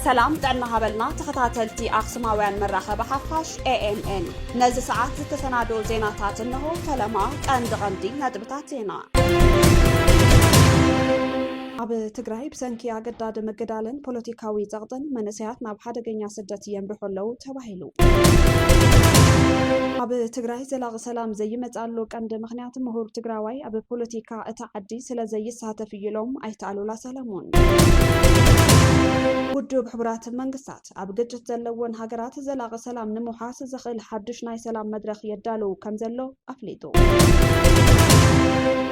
ሰላም ጥዕና ሃበልና ተኸታተልቲ ኣክሱማውያን መራኸቢ ሓፋሽ ኤኤምኤን ነዚ ሰዓት ዝተሰናደው ዜናታት እንሆ። ፈለማ ቀንዲ ቀንዲ ነጥብታት ዜና ኣብ ትግራይ ብሰንኪ ኣገዳዲ ምግዳልን ፖለቲካዊ ፀቕጥን መንእሰያት ናብ ሓደገኛ ስደት የምርሑ ኣለዉ ተባሂሉ። ኣብ ትግራይ ዘላቒ ሰላም ዘይመፅኣሉ ቀንዲ ምኽንያት ምሁር ትግራዋይ ኣብ ፖለቲካ እታ ዓዲ ስለ ዘይሳተፍ እዩ ኢሎም ኣይተ ኣሉላ ሰለሙን። ውድብ ሕቡራት መንግስታት ኣብ ግጭት ዘለወን ሃገራት ዘላቒ ሰላም ንምውሓስ ዘኽእል ሓዱሽ ናይ ሰላም መድረኽ የዳልው ከም ዘሎ ኣፍሊጡ።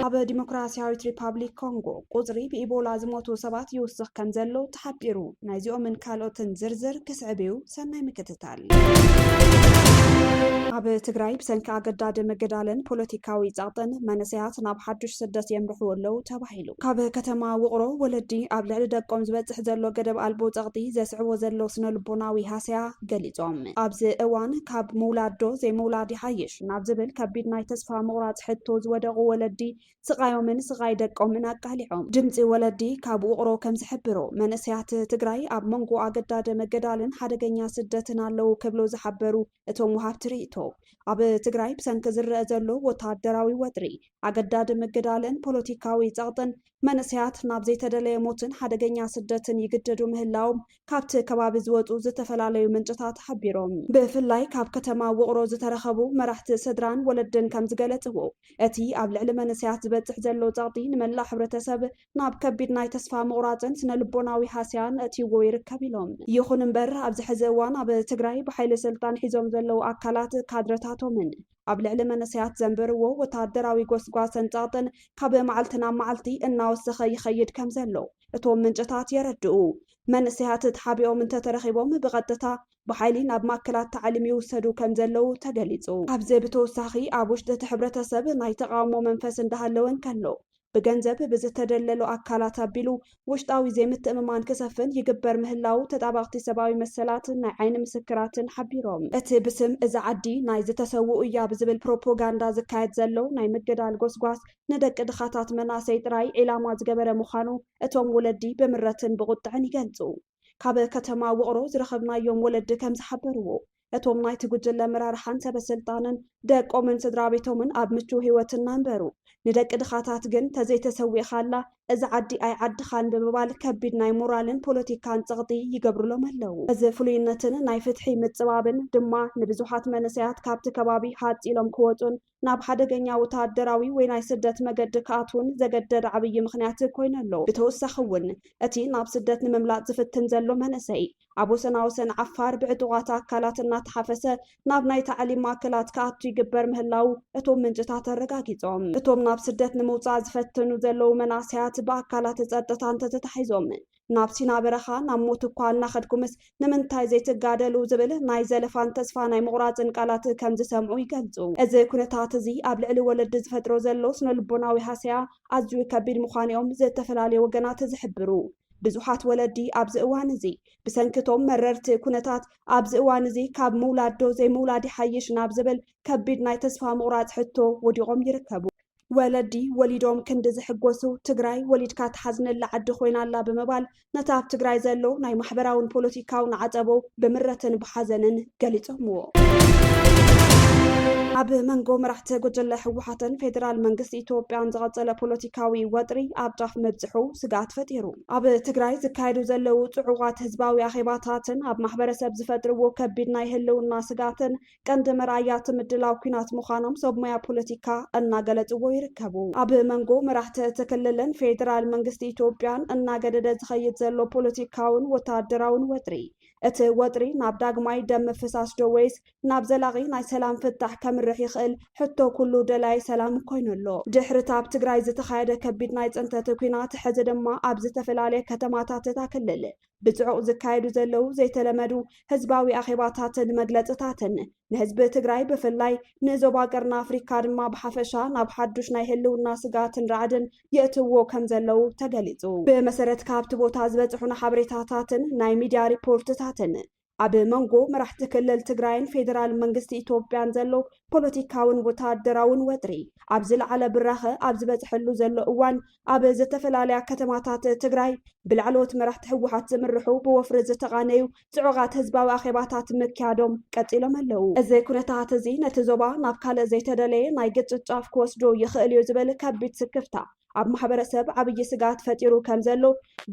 ኣብ ዲሞክራሲያዊት ሪፓብሊክ ኮንጎ ቁጽሪ ብኢቦላ ዝሞቱ ሰባት ይውስኽ ከምዘሎ ተሓቢሩ። ናይዚኦምን ካልኦትን ዝርዝር ክስዕብ እዩ፣ ሰናይ ምክትታል። ኣብ ትግራይ ብሰንኪ ኣገዳዲ ምግዳልን ፖለቲካዊ ጸቕጥን መንእሰያት ናብ ሓዱሽ ስደት የምርሑ ኣለዉ ተባሂሉ። ካብ ከተማ ውቕሮ ወለዲ ኣብ ልዕሊ ደቆም ዝበጽሕ ዘሎ ገደብ ኣልቦ ጸቕጢ ዘስዕቦ ዘሎ ስነልቦናዊ ሃሰያ ገሊጾም። ኣብዚ እዋን ካብ ምውላድ ዶ ዘይምውላድ ይሓይሽ ናብ ዝብል ከቢድ ናይ ተስፋ ምቑራጽ ሕቶ ዝወደቑ ወለዲ ስቓዮምን ስቓይ ደቆምን ኣቃሊዖም። ድምጺ ወለዲ ካብ ውቕሮ ከም ዝሕብሮ፣ መንእሰያት ትግራይ ኣብ መንጎ ኣገዳደ መገዳልን ሓደገኛ ስደትን ኣለዉ ክብሉ ዝሓበሩ እቶም ወሃብቲ ርእይቶ፣ ኣብ ትግራይ ብሰንኪ ዝረኣ ዘሎ ወተሃደራዊ ወጥሪ፣ ኣገዳደ መገዳልን ፖለቲካዊ ጸቕጥን፣ መንእሰያት ናብ ዘይተደለየ ሞትን ሓደገኛ ስደትን ይግደዱ ምህላዎም ካብቲ ከባቢ ዝወፁ ዝተፈላለዩ ምንጭታት ሓቢሮም። ብፍላይ ካብ ከተማ ውቕሮ ዝተረኸቡ መራሕቲ ስድራን ወለድን ከምዝገለፅዎ፣ እቲ ኣብ ልዕሊ መንእሰያት ዝበፅሕ ዘሎ ፀቕጢ ንመላእ ሕብረተሰብ ናብ ከቢድ ናይ ተስፋ ምቑራፅን ስነልቦናዊ ሃስያን ኣእትይዎ ይርከብ ኢሎም። ይኹን እምበር ኣብዚ ሕዚ እዋን ኣብ ትግራይ ብሓይሊ ስልጣን ሒዞም ዘለዉ ኣካላት ካድረታቶምን ኣብ ልዕሊ መንእሰያት ዘንብርዎ ወተሃደራዊ ጎስጓሰን ጸቕጥን ካብ መዓልቲ ናብ መዓልቲ እናወሰኸ ይኸይድ ከም ዘሎ እቶም ምንጭታት የረድኡ። መንእሰያት ተሓቢኦም እንተተረኺቦም ብቐጥታ ብሓይሊ ናብ ማእከላት ታዕሊም ይውሰዱ ከም ዘለዉ ተገሊጹ። ካብዚ ብተወሳኺ ኣብ ውሽጢ እቲ ሕብረተሰብ ናይ ተቓውሞ መንፈስ እንዳሃለወ እንከሎ፣ ብገንዘብ ብዝተደለሉ ኣካላት ኣቢሉ ውሽጣዊ ዘይምትእምማን ክሰፍን ይግበር ምህላዉ ተጣበቕቲ ሰብኣዊ መሰላት ናይ ዓይኒ ምስክራትን ሓቢሮም። እቲ ብስም እዛ ዓዲ ናይ ዝተሰውኡ እያ ብዝብል ፕሮፖጋንዳ ዝካየድ ዘሎ ናይ ምግዳል ጎስጓስ ንደቂ ድኻታት መናእሰይ ጥራይ ዒላማ ዝገበረ ምዃኑ እቶም ወለዲ ብምረትን ብቑጥዐን ይገልጹ። ካብ ከተማ ውቕሮ ዝረኸብናዮም ወለዲ ከም ዝሓበርዎ፣ እቶም ናይቲ ጉጅለ ኣመራርሓን ሰበስልጣንን ደቆምን ስድራቤቶምን ኣብ ምቹው ህይወት እናንበሩ፣ ንደቂ ድኻታት ግን ተዘይተሰዊእኻላ እዛ ዓዲ ኣይዓድኻን ብምባል ከቢድ ናይ ሞራልን ፖለቲካን ጸቕጢ ይገብሩሎም ኣለዉ። እዚ ፍሉይነትን ናይ ፍትሒ ምጽባብን ድማ ንብዙሓት መንእሰያት ካብቲ ከባቢ ሃጽ ኢሎም ክወጹን ናብ ሓደገኛ ወተሃደራዊ ወይ ናይ ስደት መገዲ ክኣትዉን ዘገደደ ዓብዪ ምኽንያት ኮይኑ ኣሎ። ብተወሳኺ እውን እቲ ናብ ስደት ንምምላጥ ዝፍትን ዘሎ መንእሰይ ኣብ ወሰና ወሰን ዓፋር ብዕጡቓት ኣካላት እናተሓፈሰ ናብ ናይ ታዕሊም ማእከላት ክኣቱ ይግበር ምህላዉ እቶም ምንጭታት ኣረጋጊጾም። እቶም ናብ ስደት ንምውጻእ ዝፈትኑ ዘለዉ መናእሰያት ብኣካላት ጸጥታ እንተተታሒዞም ናብ ሲና በረኻ ናብ ሞት እኳ እናኸድኩምስ ንምንታይ ዘይትጋደሉ ዝብል ናይ ዘለፋን ተስፋ ናይ ምቑራጽን ቃላት ከም ዝሰምዑ ይገልጹ። እዚ ኩነታት እዚ ኣብ ልዕሊ ወለዲ ዝፈጥሮ ዘሎ ስነልቦናዊ ሃሰያ ኣዝዩ ከቢድ ምዃኑ'ዮም ዝተፈላለዩ ወገናት ዝሕብሩ። ብዙሓት ወለዲ ኣብዚ እዋን እዚ ብሰንኪ እቶም መረርቲ ኩነታት ኣብዚ እዋን እዚ ካብ ምውላድ ዶ ዘይምውላድ ይሓይሽ ናብ ዝብል ከቢድ ናይ ተስፋ ምቑራጽ ሕቶ ወዲቖም ይርከቡ። ወለዲ ወሊዶም ክንዲ ዝሕጎሱ ትግራይ ወሊድካ ትሓዝነላ ዓዲ ኮይና ኣላ ብምባል ነቲ ኣብ ትግራይ ዘሎ ናይ ማሕበራውን ፖለቲካውን ዓፀቦ ብምረትን ብሓዘንን ገሊፆምዎ። ኣብ መንጎ መራሕቲ ጉጅለ ህወሓትን ፌዴራል መንግስቲ ኢትዮጵያን ዝቐፀለ ፖለቲካዊ ወጥሪ ኣብ ጫፍ ምብፅሑ ስግኣት ፈጢሩ። ኣብ ትግራይ ዝካየዱ ዘለዉ ፅዑቓት ህዝባዊ ኣኼባታትን ኣብ ማሕበረሰብ ዝፈጥርዎ ከቢድ ናይ ህልውና ስግኣትን ቀንዲ መርኣያ እቲ ምድላው ኲናት ምዃኖም ሰብ ሞያ ፖለቲካ እናገለፅዎ ይርከቡ። ኣብ መንጎ መራሕቲ እቲ ክልልን ፌዴራል መንግስቲ ኢትዮጵያን እናገደደ ዝኸይድ ዘሎ ፖለቲካውን ወታደራውን ወጥሪ፣ እቲ ወጥሪ ናብ ዳግማይ ደም ምፍሳስ ዶ ወይስ ናብ ዘላቒ ናይ ሰላም ፍታሕ ከምርሕ ይኽእል ሕቶ ኩሉ ደላዪ ሰላም ኮይኑ ኣሎ። ድሕሪ እቲ ኣብ ትግራይ ዝተኻየደ ከቢድ ናይ ፅንተት ኲናት፣ ሕዚ ድማ ኣብ ዝተፈላለየ ከተማታት እታ ክልል ብፅዑቕ ዝካየዱ ዘለዉ ዘይተለመዱ ህዝባዊ ኣኼባታትን መግለፅታትን ንህዝቢ ትግራይ ብፍላይ ንዞባ ቀርኒ ኣፍሪካ ድማ ብሓፈሻ ናብ ሓዱሽ ናይ ህልውና ስግኣትን ራዕድን የእትውዎ ከም ዘለዉ ተገሊፁ። ብመሰረት ካብቲ ቦታ ዝበፅሑና ሓበሬታታትን ናይ ሚድያ ሪፖርትታትን ኣብ መንጎ መራሕቲ ክልል ትግራይን ፌዴራል መንግስቲ ኢትዮጵያን ዘሎ ፖለቲካውን ወታደራውን ወጥሪ ኣብ ዝለዓለ ብራኸ ኣብ ዝበፅሐሉ ዘሎ እዋን ኣብ ዝተፈላለያ ከተማታት ትግራይ ብላዕለዎት መራሕቲ ህወሓት ዝምርሑ ብወፍሪ ዝተቓነዩ ፅዑቓት ህዝባዊ ኣኼባታት ምክያዶም ቀፂሎም ኣለው። እዚ ኩነታት እዚ ነቲ ዞባ ናብ ካልእ ዘይተደለየ ናይ ግጭት ጫፍ ክወስዶ ይኽእል እዩ ዝብል ከቢድ ስክፍታ ኣብ ማሕበረሰብ ዓብዪ ስግኣት ፈጢሩ ከም ዘሎ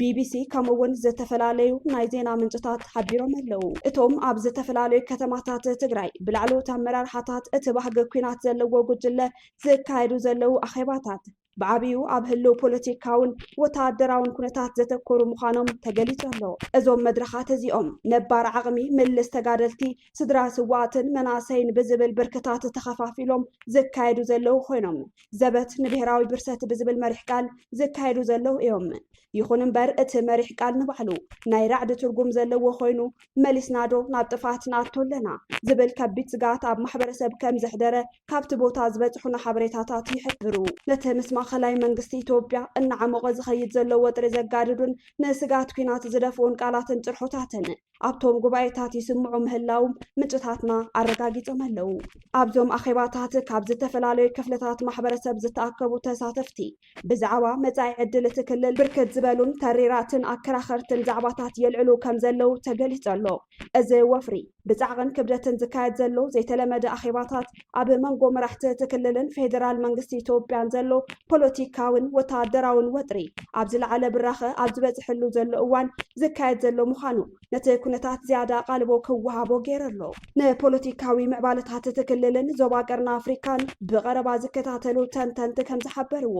ቢቢሲ ከምኡ እውን ዝተፈላለዩ ናይ ዜና ምንጭታት ሓቢሮም ኣለው። እቶም ኣብ ዝተፈላለዩ ከተማታት ትግራይ ብላዕለዎት ኣመራርሓታት እቲ ባህጊ ኲናት ዘለዎ ጉጅለ ዝካየዱ ዘለው ኣኼባታት ብዓብዩ ኣብ ህልው ፖለቲካውን ወተሃደራውን ኩነታት ዘተኮሩ ምዃኖም ተገሊጹ ኣሎ። እዞም መድረኻት እዚኦም ነባር ዓቕሚ ምልስ ተጋደልቲ ስድራ ስውኣትን መናእሰይን ብዝብል ብርክታት ተኸፋፊሎም ዝካየዱ ዘለዉ ኮይኖም ዘበት ንብሄራዊ ብርሰት ብዝብል መሪሕ ቃል ዝካየዱ ዘለዉ እዮም። ይኹን እምበር እቲ መሪሕ ቃል ንባዕሉ ናይ ራዕዲ ትርጉም ዘለዎ ኮይኑ መሊስናዶ ናብ ጥፍኣት ንኣቱ ኣለና ዝብል ከቢድ ስግኣት ኣብ ማሕበረሰብ ከም ዘሕደረ ካብቲ ቦታ ዝበፅሑና ሓበሬታታት ይሕብሩ። ነቲ ምስ ማእኸላይ መንግስቲ ኢትዮጵያ እናዓሞቐ ዝኸይድ ዘሎ ወጥሪ ዘጋድዱን ንስግኣት ኲናት ዝደፍኡን ቃላትን ጭርሖታትን ኣብቶም ጉባኤታት ይስምዑ ምህላውም ምንጭታትና ኣረጋጊጾም ኣለው። ኣብዞም ኣኼባታት ካብ ዝተፈላለዩ ክፍልታት ማሕበረሰብ ዝተኣከቡ ተሳተፍቲ ብዛዕባ መጻኢ ዕድል እቲ ክልል ብርክት ዝበሉን ተሪራትን ኣከራኸርትን ዛዕባታት የልዕሉ ከም ዘለው ተገሊጹ ኣሎ። እዚ ወፍሪ ብጻዕቕን ክብደትን ዝካየድ ዘሎ ዘይተለመደ ኣኼባታት ኣብ መንጎ መራሕቲ እቲ ክልልን ፌደራል መንግስቲ ኢትዮጵያን ዘሎ ፖለቲካዊን ወታደራዊን ወጥሪ ኣብ ዝለዓለ ብራኸ ኣብ ዝበፅሕሉ ዘሎ እዋን ዝካየድ ዘሎ ምዃኑ ነቲ ኩነታት ዝያዳ ኣቓልቦ ክወሃቦ ገይሩ ኣሎ። ንፖለቲካዊ ምዕባለታት እቲ ክልልን ዞባ ቀርኒ ኣፍሪካን ብቐረባ ዝከታተሉ ተንተንቲ ከምዝሓበርዎ፣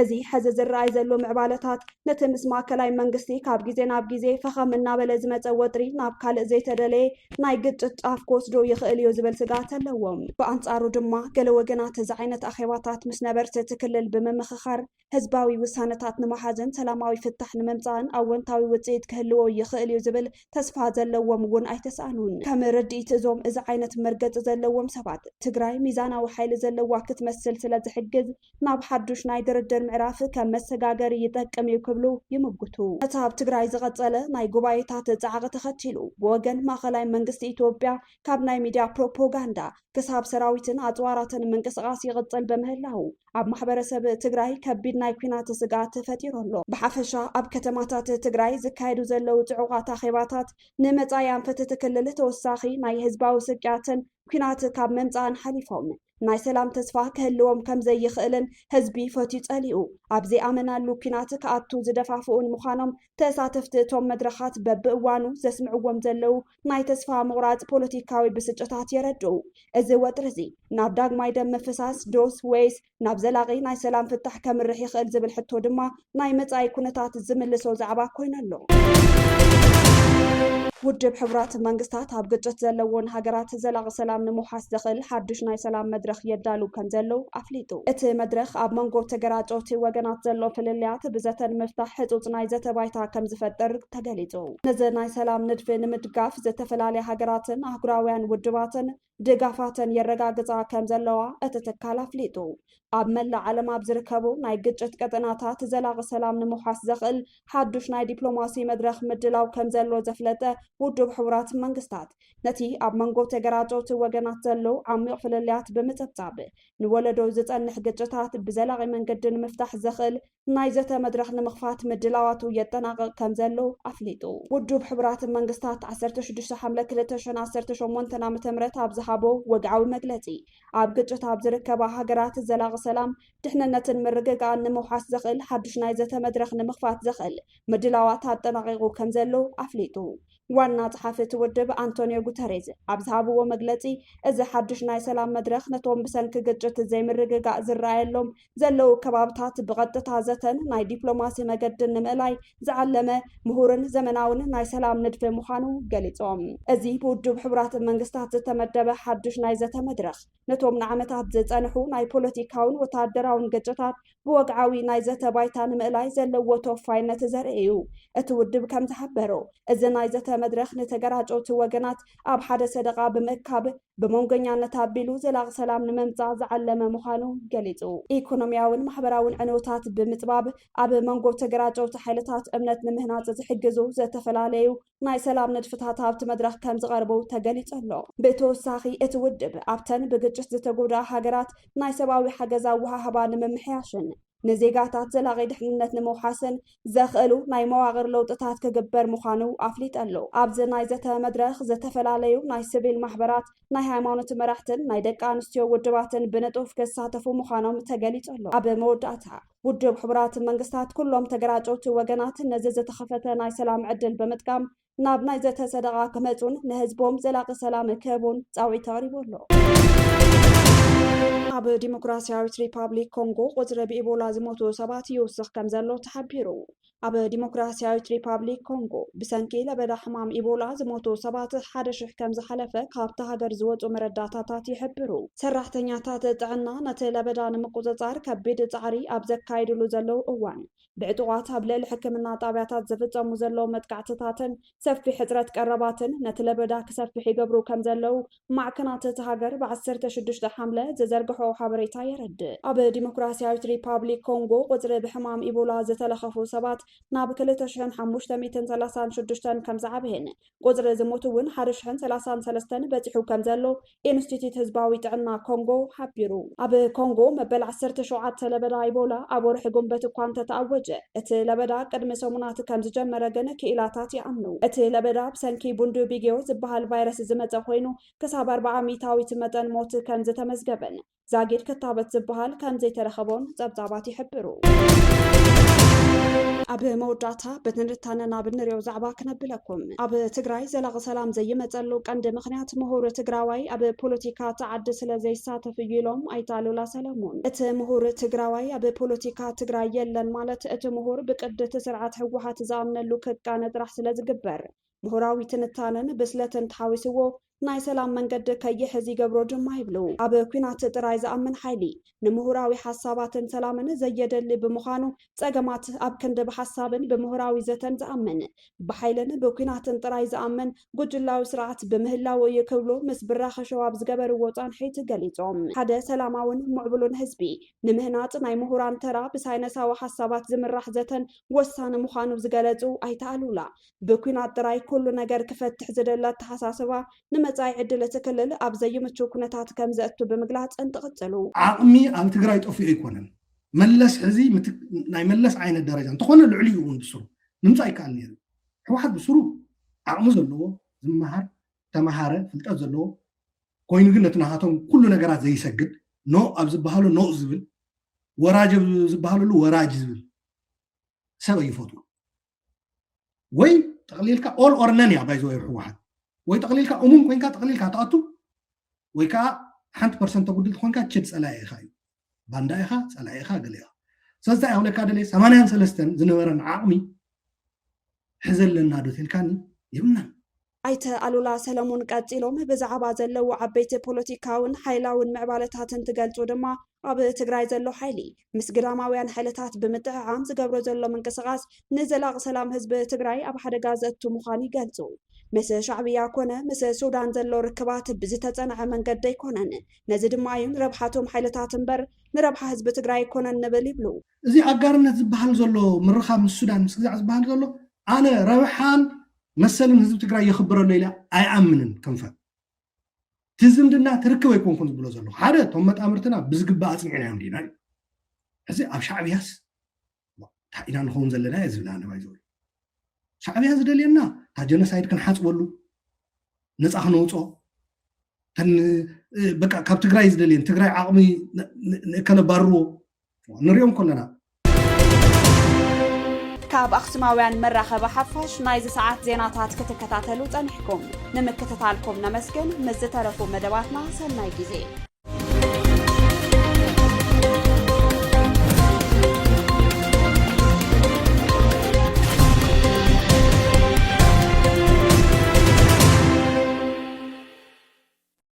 እዚ ሕዚ ዝረኣይ ዘሎ ምዕባለታት፣ ነቲ ምስ ማእከላይ መንግስቲ ካብ ግዜ ናብ ግዜ ፈኸም እናበለ ዝመጸ ወጥሪ ናብ ካልእ ዘይተደለየ ናይ ግጭት ጫፍ ክወስዶ ይኽእል እዩ ዝብል ስግኣት ኣለዎም። ብኣንጻሩ ድማ፣ ገለ ወገናት እዚ ዓይነት ኣኼባታት ምስ ነበርቲ እቲ ክልል ብምምኽኻር ህዝባዊ ውሳነታት ንምሓዝን ሰላማዊ ፍታሕ ንምምጻእን ኣወንታዊ ውጽኢት ክህልዎ ይኽእል እዩ ዝብል ተስፋ ዘለዎም እውን ኣይተሳእኑን። ከም ርድኢት እዞም እዚ ዓይነት መርገጺ ዘለዎም ሰባት፣ ትግራይ ሚዛናዊ ሓይሊ ዘለዋ ክትመስል ስለዝሕግዝ፣ ናብ ሓዱሽ ናይ ድርድር ምዕራፍ ከም መሰጋገሪ ይጠቅም እዩ ክብሉ ይምጉቱ። ነቲ ኣብ ትግራይ ዝቐጸለ ናይ ጉባኤታት ጻዕቒ ተኸቲሉ፣ ብወገን ማእኸላይ መንግስቲ ኢትዮጵያ ካብ ናይ ሚድያ ፕሮፖጋንዳ ክሳብ ሰራዊትን ኣጽዋራትን ምንቅስቓስ ይቕጽል ብምህላዉ ኣብ ማሕበረሰብ ትግራይ ከቢድ ናይ ኲናት ስግኣት ፈጢሩ ኣሎ። ብሓፈሻ ኣብ ከተማታት ትግራይ ዝካየዱ ዘለዉ ጽዑቓት ኣኼባታት ንመጻኢ ኣንፈት እቲ ክልል ተወሳኺ ናይ ህዝባዊ ስቅያትን ኲናት ካብ ምምጻእን ሓሊፎም ናይ ሰላም ተስፋ ክህልዎም ከም ዘይኽእልን ህዝቢ ፈትዩ ጸሊኡ ኣብ ዘይኣመናሉ ኲናት ክኣቱ ዝደፋፍኡን ምዃኖም ተሳተፍቲ እቶም መድረኻት በብእዋኑ ዘስምዕዎም ዘለዉ ናይ ተስፋ ምቑራጽ ፖለቲካዊ ብስጭታት የረድኡ። እዚ ወጥሪ'ዚ ናብ ዳግማይ ደም ምፍሳስ ዶስ ወይስ ናብ ዘላቒ ናይ ሰላም ፍታሕ ከምርሕ ይኽእል ዝብል ሕቶ ድማ ናይ መጻኢ ኩነታት ዝምልሶ ዛዕባ ኮይኑ ኣሎ። ውድብ ሕቡራት መንግስታት ኣብ ግጭት ዘለዎን ሃገራት ዘላቒ ሰላም ንምውሓስ ዘኽእል ሓዱሽ ናይ ሰላም መድረኽ የዳሉ ከም ዘሎ ኣፍሊጡ። እቲ መድረኽ ኣብ መንጎ ተገራጨውቲ ወገናት ዘሎ ፍልልያት ብዘተ ንምፍታሕ ሕጹጽ ናይ ዘተ ባይታ ከም ዝፈጥር ተገሊጹ። ነዚ ናይ ሰላም ንድፊ ንምድጋፍ ዝተፈላለያ ሃገራትን ኣህጉራውያን ውድባትን ድጋፋተን የረጋግፃ ከም ዘለዋ እቲ ትካል ኣፍሊጡ። ኣብ መላእ ዓለም ኣብ ዝርከቡ ናይ ግጭት ቀጠናታት ዘላቒ ሰላም ንምውሓስ ዘኽእል ሓዱሽ ናይ ዲፕሎማሲ መድረኽ ምድላው ከም ዘሎ ዘፍለጠ ውድብ ሕቡራት መንግስታት ነቲ ኣብ መንጎ ተገራጨውቲ ወገናት ዘሎ ዓሚቕ ፍልልያት ብምፅብፃብ ንወለዶ ዝፀንሕ ግጭታት ብዘላቒ መንገዲ ንምፍታሕ ዘኽእል ናይ ዘተ መድረኽ ንምኽፋት ምድላዋቱ የጠናቕቕ ከምዘሎ ኣፍሊጡ። ውዱብ ሕቡራት መንግስታት ዓሰርተ ሽዱሽተ ሓምለ ክልተ ሽሕን ዓሰርተ ሸሞንተን ዓመተ ምህረት ኣብ ዝሃቦ ወግዓዊ መግለጺ፣ ኣብ ግጭት ኣብ ዝርከባ ሃገራት ዘላቒ ሰላም፣ ድሕንነትን ምርግጋእን ንምውሓስ ዘኽእል ሓዱሽ ናይ ዘተ መድረኽ ንምኽፋት ዘኽእል ምድላዋት ኣጠናቒቑ ከምዘሎ ኣፍሊጡ። ዋና ጸሓፊ እቲ ውድብ ኣንቶንዮ ጉተሬዝ ኣብ ዝሃብዎ መግለጺ፣ እዚ ሓዱሽ ናይ ሰላም መድረኽ ነቶም ብሰንኪ ግጭት ዘይምርግጋእ ዝረኣየሎም ዘለዉ ከባብታት ብቐጥታ ዘተን ናይ ዲፕሎማሲ መገድን ንምእላይ ዝዓለመ ምሁርን ዘመናውን ናይ ሰላም ንድፊ ምዃኑ ገሊጾም። እዚ ብውድብ ሕቡራት መንግስታት ዝተመደበ ሓድሽ ናይ ዘተ መድረኽ፣ ነቶም ንዓመታት ዝጸንሑ ናይ ፖለቲካውን ወተሃደራውን ግጭታት ብወግዓዊ ናይ ዘተ ባይታ ንምእላይ ዘለዎ ተወፋይነት ዘርኢ እዩ። እቲ ውድብ ከም ዝሓበሮ፣ እዚ ናይ ዘተ መድረኽ ንተገራጨውቲ ወገናት ኣብ ሓደ ሰደቓ ብምእካብ፣ ብመንጎኛነት ኣቢሉ ዘላቒ ሰላም ንመምፃእ ዝዓለመ ምዃኑ ገሊፁ። ኢኮኖሚያዊን ማሕበራዊን ዕንወታት ብምፅባብ ኣብ መንጎ ተገራጨውቲ ሓይልታት እምነት ንምህናፅ ዝሕግዙ ዝተፈላለዩ ናይ ሰላም ንድፍታት ኣብቲ መድረኽ ከምዝቐርቡ ተገሊፁ ኣሎ። ብተወሳኺ እቲ ውድብ ኣብተን ብግጭት ዝተጎድኣ ሃገራት ናይ ሰብኣዊ ሓገዝ ኣወሃህባ ንምምሕያሽን ንዜጋታት ዘላቒ ድሕንነት ንምውሓስን ዘኽእሉ ናይ መዋቕር ለውጥታት ክግበር ምዃኑ ኣፍሊጠሉ። ኣብዚ ናይ ዘተ መድረኽ ዝተፈላለዩ ናይ ስቪል ማሕበራት፣ ናይ ሃይማኖት መራሕትን ናይ ደቂ ኣንስትዮ ውድባትን ብንጡፍ ክሳተፉ ምዃኖም ተገሊጸሉ። ኣብ መወዳእታ ውድብ ሕቡራት መንግስታት ኩሎም ተገራጨውቲ ወገናት ነዚ ዝተኸፈተ ናይ ሰላም ዕድል ብምጥቃም ናብ ናይ ዘተ ሰደቓ ክመፁን ንህዝቦም ዘላቒ ሰላም ክህቡን ፃውዒት ኣቕሪቡ ኣሎ። ኣብ ዲሞክራሲያዊት ሪፓብሊክ ኮንጎ ቁፅሪ ብኢቦላ ዝሞቱ ሰባት ይውስኽ ከም ዘሎ ተሓቢሩ። ኣብ ዲሞክራሲያዊት ሪፓብሊክ ኮንጎ ብሰንኪ ለበዳ ሕማም ኢቦላ ዝሞቱ ሰባት ሓደ ሽሕ ከም ዝሓለፈ ካብታ ሃገር ዝወፁ መረዳታታት ይሕብሩ። ሰራሕተኛታት ጥዕና ነቲ ለበዳ ንምቁፅፃር ከቢድ ፃዕሪ ኣብ ዘካይድሉ ዘለዉ እዋን ብዕጡቓት ኣብ ልዕሊ ሕክምና ጣብያታት ዝፍፀሙ ዘለዉ መጥቃዕትታትን ሰፊሕ ሕፅረት ቀረባትን ነቲ ለበዳ ክሰፍሕ ይገብሩ ከም ዘለዉ ማዕከናት እታ ሃገር ብ ዓሰርተ ሽዱሽተ ሓምለ ዝዘርግሐኦ ሓበሬታ የረድእ። ኣብ ዲሞክራሲያዊት ሪፓብሊክ ኮንጎ ቁፅሪ ብሕማም ኢቦላ ዝተለኸፉ ሰባት ናብ ክልተ ሽሕን ሓሙሽተ ሚእትን ሰላሳን ሽዱሽተን ከም ዝዓበየን ቁጽሪ ዝሞቱ እውን ሓደ ሽሕን ሰላሳን ሰለስተን በጺሑ ከምዘሎ ኢንስቲትዩት ህዝባዊ ጥዕና ኮንጎ ሓቢሩ። ኣብ ኮንጎ መበል ዓሰርተ ሸውዓተ ለበዳ ኢቦላ ኣብ ወርሒ ጉንበት እኳ እንተተኣወጀ፣ እቲ ለበዳ ቅድሚ ሰሙናት ከምዝጀመረ ግን ክኢላታት ይኣምኑ። እቲ ለበዳ ብሰንኪ ቡንዱቢግዮ ዝበሃል ቫይረስ ዝመጸ ኮይኑ፣ ክሳብ ኣርብዓ ሚእታዊት መጠን ሞት ከምዝተመዝገበን ዛጊድ ክታበት ዝበሃል ከምዘይተረኸቦን ጸብጻባት ይሕብሩ። ኣብ መወዳእታ ብትንታነ ናብ እንሪኦ ዛዕባ ክነብለኩም ኣብ ትግራይ ዘላቂ ሰላም ዘይመፀሉ ቀንዲ ምክንያት ምሁር ትግራዋይ ኣብ ፖለቲካ ተዓዲ ስለ ዘይሳተፍ እዩ ኢሎም ኣይተ ኣሉላ ሰለሙን። እቲ ምሁር ትግራዋይ ኣብ ፖለቲካ ትግራይ የለን ማለት እቲ ምሁር ብቅዲ እቲ ስርዓት ህወሓት ዝኣምነሉ ክቃነ ጥራሕ ስለ ዝግበር ምሁራዊ ትንታነን ብስለትን ተሓዊስዎ ናይ ሰላም መንገዲ ከይሕዝ ይገብሮ ድማ ይብሉ። ኣብ ኲናት ጥራይ ዝኣምን ሓይሊ፣ ንምሁራዊ ሓሳባትን ሰላምን ዘየደሊ ብምዃኑ፣ ጸገማት ኣብ ክንዲ ብሓሳብን ብምሁራዊ ዘተን ዝኣምን፣ ብሓይልን ብኲናትን ጥራይ ዝኣምን ጉጅላዊ ስርዓት ብምህላዉ እዩ ክብሉ ምስ ብራኸ ሸው ኣብ ዝገበርዎ ጻንሒት ገሊጾም። ሓደ ሰላማውን ምዕቡሉን ህዝቢ ንምህናጽ ናይ ምሁራን ተራ ብሳይነሳዊ ሓሳባት ዝምራሕ ዘተን ወሳኒ ምዃኑ ዝገለጹ ኣይተ ኣሉላ፣ ብኲናት ጥራይ ኩሉ ነገር ክፈትሕ ዝደሊ ኣተሓሳስባ፣ ንመጻኢ ዕድል እቲ ክልል ኣብ ዘይምቹው ኩነታት ከም ዘእቱ ብምግላጽ እንትቕጽሉ። ዓቕሚ ኣብ ትግራይ ጠፊኡ ኣይኮነን። መለስ ሕዚ ናይ መለስ ዓይነት ደረጃ እንተኾነ ልዕሊኡ እውን ብስሩ ምምፃእ ይከኣል ነይሩ እዩ። ህወሓት ብስሩ ዓቕሚ ዘለዎ ዝመሃር ተመሃረ ፍልጠት ዘለዎ ኮይኑ ግን ነቲ ናሃቶም ኩሉ ነገራት ዘይሰግድ ኖ ኣብ ዝበሃሉ ኖ ዝብል ወራጅ ኣብ ዝበሃለሉ ወራጅ ዝብል ሰብ ኣይፈጥሩ ወይ ጠቕሊልካ ኦል ኦር ነን እያ ባይዘ ወይ ህወሓት ወይ ጠቕሊልካ እሙን ኮንካ ጠቕሊልካ ትኣቱ ወይ ከዓ ሓንቲ ፐርሰንት ተጉድል ኮንካ ችድ ፀላኢ ኢኻ እዩ ባንዳ ኢኻ ፀላኢ ኢኻ ገለ ኢኻ ስለዚ እንታይ ክብለካ ደለየ ሰማንያን ሰለስተን ዝነበረን ዓቕሚ ሕዘ ኣለና ዶ ተልካኒ የብልናን ኣይተ ኣሉላ ሰለሙን ቀፂሎም ብዛዕባ ዘለዉ ዓበይቲ ፖለቲካውን ሓይላውን ምዕባለታት እንትገልፁ ድማ ኣብ ትግራይ ዘሎ ሓይሊ ምስ ግዳማውያን ሓይልታት ብምጥዕዓም ዝገብሮ ዘሎ ምንቅስቓስ ንዘላቒ ሰላም ህዝቢ ትግራይ ኣብ ሓደጋ ዘእቱ ምዃኑ ይገልፁ። ምስ ሻዕብያ ኮነ ምስ ሱዳን ዘሎ ርክባት ብዝተፀንዐ መንገዲ ኣይኮነን፣ ነዚ ድማ እዩ ንረብሓቶም ሓይልታት እምበር ንረብሓ ህዝቢ ትግራይ ኣይኮነን ንብል ይብሉ። እዚ ኣጋርነት ዝበሃል ዘሎ ምርኻብ ምስ ሱዳን ምስ ግዛዕ ዝበሃል ዘሎ ኣነ ረብሓን መሰልን ህዝቢ ትግራይ የኽብር ኣሎ ኢለ ኣይኣምንን ክንፈ እቲ ዝምድና ትርክብ ኣይኮንኩን ዝብሎ ዘለኹ ሓደ እቶም መጣምርትና ብዝግባእ ኣፅኒዕናዮም ዲና እዩ ሕዚ ኣብ ሻዕብያስ እንታይ ኢና ንኸውን ዘለና እየ ዝብል ኣነባይ ዝበሉ ሻዕብያ ዝደልየና እታ ጀኖሳይድ ክንሓፅበሉ ነፃ ክነውፆ በቃ ካብ ትግራይ ዝደልየን ትግራይ ዓቕሚ ንእከለባርዎ ንሪኦም ኮለና። ካብ ኣኽሱማውያን መራኸቢ ሓፋሽ ናይዚ ሰዓት ዜናታት ክትከታተሉ ጸኒሕኩም ንምክትታልኩም ነመስግን። ምስ ዝተረፉ መደባትና ሰናይ ግዜ